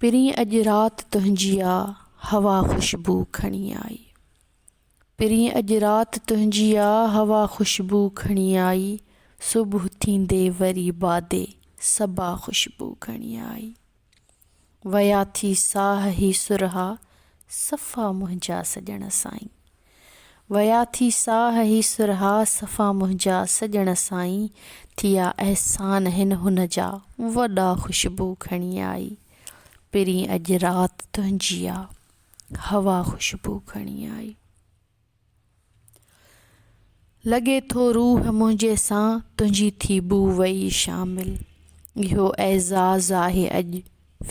پرين اڄ رات تنهنجي آ هوا خوشبو کڻي آئي پرين اڄ رات تنهنجي آ هوا خوشبو کڻي آئي صبح ٿيندي وري بادي صبا خوشبو کڻي آئي ويا ٿي ساهه هي سرها صفا منهنجا سڄڻ سائين ويا ٿي ساهه هي سرها صفا منهنجا سڄڻ سائين ٿيا احسان هن هن جا وڏا خوشبو کڻي آئي پرين اڄ رات تنهنجي آ هوا خوشبو کڻي آئي. لڳي ٿو روح منهنجي سان تنهنجي ٿي بوء وئي شامل اهو اعزاز آهي اڄ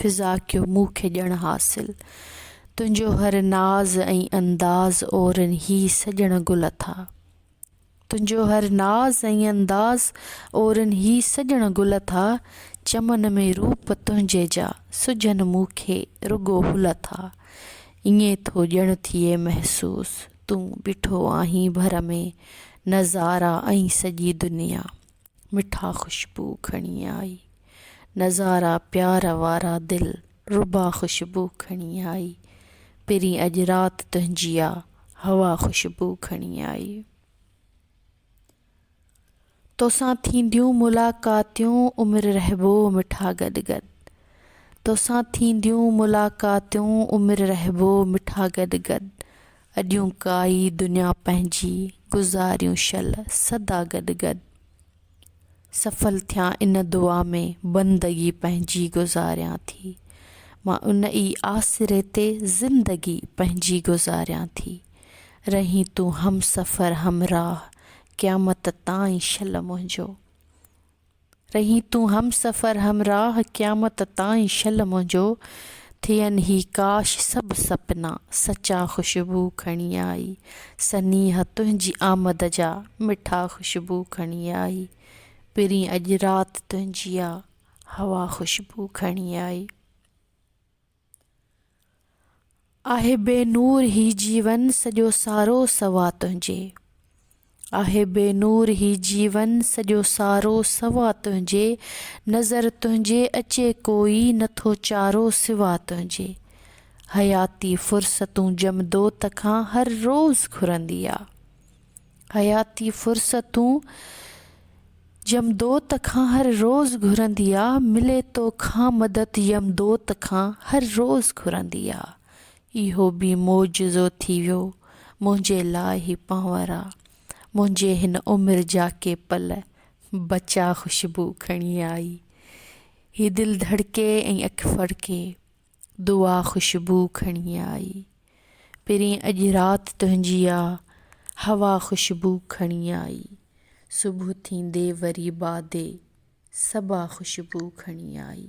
فضا ڪيو مون کي ڄڻ حاصل تنهنجو هر ناز ۽ انداز اورن هي سڄڻ گل اٿا تنهنجو هر ناز ۽ انداز اورن هي سڄڻ گل اٿا چمن ۾ روپ تنهنجي جا سجهن مون کي رڳو هل اٿا ائين ٿو ڄڻ ٿئي محسوس. تون بيٺو آهين ڀر ۾ نظارا ۽ سڄي دنيا مٺا خوشبو کڻي آئي نظارا پيار وارا دل ربا خوشبو کڻي آئي پرين اڄ رات تنهنجي آ هوا خوشبو کڻي آئي. توسان ٿينديون ملاقاتيون عمر رهبو مٺا گڏ گڏ توسان ٿينديون ملاقاتيون عمر رهبو مٺا گڏ گڏ اڏيون ڪائي دنيا پنهنجي گذاريون شل سدا گڏ گڏ. سڦل ٿيان ان دعا ۾ بندگي پنهنجي گذاريان ٿي مان ان ئي آسري تي زندگي پنهنجي گذاريان ٿي رهين تون همسفر همراهه قيامت تائين شل منهنجو رهين تون همسفر همراهه قيامت تائين شل منهنجو ٿين هي ڪاش سڀ سپنا سچا خوشبو کڻي آئي سنيهه تنهنجي آمد جا، مٺا خوشبو کڻي آئي. پرين اڄ رات تنهنجي آ، هوا خوشبو کڻي آئي. آهي بي نور هي جيون، سڄو سارو سوا تنهنجي. آهي بي نور هي جيون سڄو سارو سوا تنهنجي نظر تنهنجي اچي ڪوئي نٿو چارو سوا تنهنجي حياتي فرصتون جمدوت کان هر روز گهرندي آ حياتي فرصتون جمدوت کان هر روز گهرندي آ ملي توکان مدد يمدوت کان هر روز گهرندي آ اهو به معجزو ٿي ويو منهنجي لاء هي پانورا منهنجي هن عمر جا ڪي پل بچا خوشبو کڻي آئي هي دل ڌڙڪي ۽ اک ڦڙڪي دعا خوشبو کڻي آئي پرين اڄ رات تنهنجي آ هوا خوشبو کڻي آئي صبح ٿيندي وري بادي صبا خوشبو کڻي آئي.